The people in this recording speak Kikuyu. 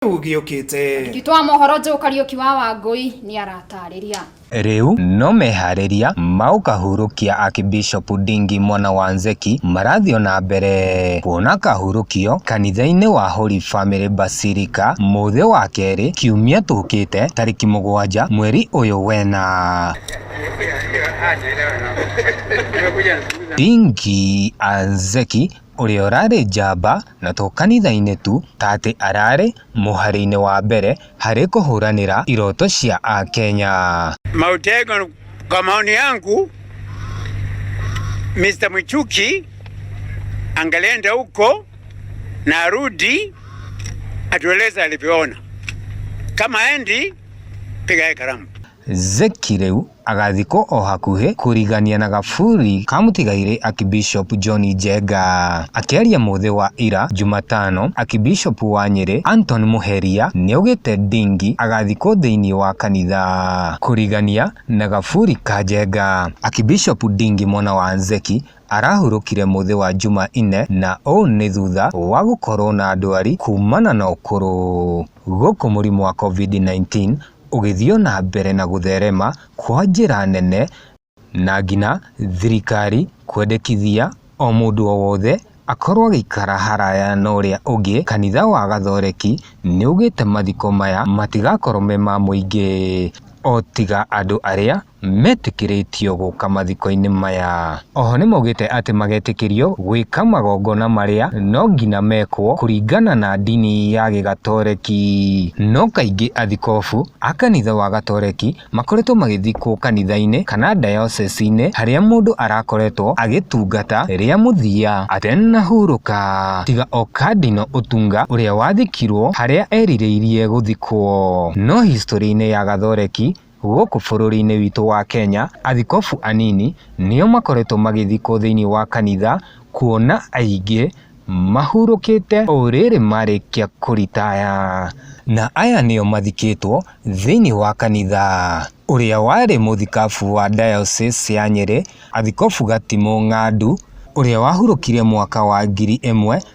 Rĩu gĩũkĩte. Andĩki twa mohoro Joe Kariuki wa Wangũi nĩaratarĩria. Rĩu no meharĩria maũkahurũkia Akibishop Ndingi mwana wa Nzeki marathiĩ ona mbere kuona kahurũkio kanitha-inĩ wa Holy Family Basilica mũthĩ wa kerĩ kiumia tũkĩte tarĩki mũgwanja mweri ũyũ wena. Ndingi Anzeki ũrĩa ũrarĩ njamba na to kanitha-inĩ tu ta atĩ ararĩ mũhari-inĩ wa mbere harĩ kũhũranĩra iroto cia Akenya. Mautego, kwa maoni yangu Mr. Mwichuki angelenda huko na arudi atueleze alivyoona. Kama endi piga karamu. Zeki rĩu agathikwo o hakuhĩ kũrigania na gaburi ka mũtigairĩ Akibishop John Njenga. Akĩaria mũthĩ wa ira Jumatano, Akibishop wa Nyĩrĩ Anton Mũheria nĩaugĩte Ndingi agathikwo thĩinĩ wa kanitha kũrigania na gaburi ka Njenga. Akibishop Ndingi mwana wa Zeki arahurũkire mũthĩ wa Juma inne na ũũ nĩ thutha wa gũkorwo na ndwari kumana na ũkũrũ. Gũkũ mũrimũ wa Covid-19 ũgĩthiĩ o na mbere na gũtherema kwa njĩra nene na nginya thirikari kwendekithia o mũndũ o wothe akorwo agĩikara haraya na ũrĩa ũngĩ. Kanitha wa Gathoreki nĩugĩte mathiko maya matigakorwo me ma mũingĩ o tiga andũ arĩa metĩkĩrĩtio gũka mathiko-inĩ maya. Oho nĩmaugĩte atĩ magetĩkĩrio gwĩka magongona marĩa no ngina mekwo kũringana na ndini ya gĩgatoreki. No kaingĩ athikobu a kanitha wa gatoreki makoretwo magĩthikwo kanitha-inĩ kana dayocese-inĩ harĩa mũndũ arakoretwo agĩtungata rĩa mũthia atenahurũka, tiga o Cardinal Otunga ũrĩa wathikirwo harĩa erirĩirie gũthikwo. No historĩ-inĩ ya gathoreki Gũkũ bũrũri-inĩ witũ wa Kenya, athikobu anini nĩo makoretwo magĩthikwo thĩinĩ wa kanitha kuona aingĩ mahurũkĩte o rĩrĩ marĩkia kũritaya. Na aya nĩo mathikĩtwo thĩinĩ wa kanitha. Ũrĩa warĩ mũthikabu wa diocese ya Nyĩrĩ, Athikobu Gatimũ Ng'andu, ũrĩa wahurũkire mwaka wa ngiri ĩmwe,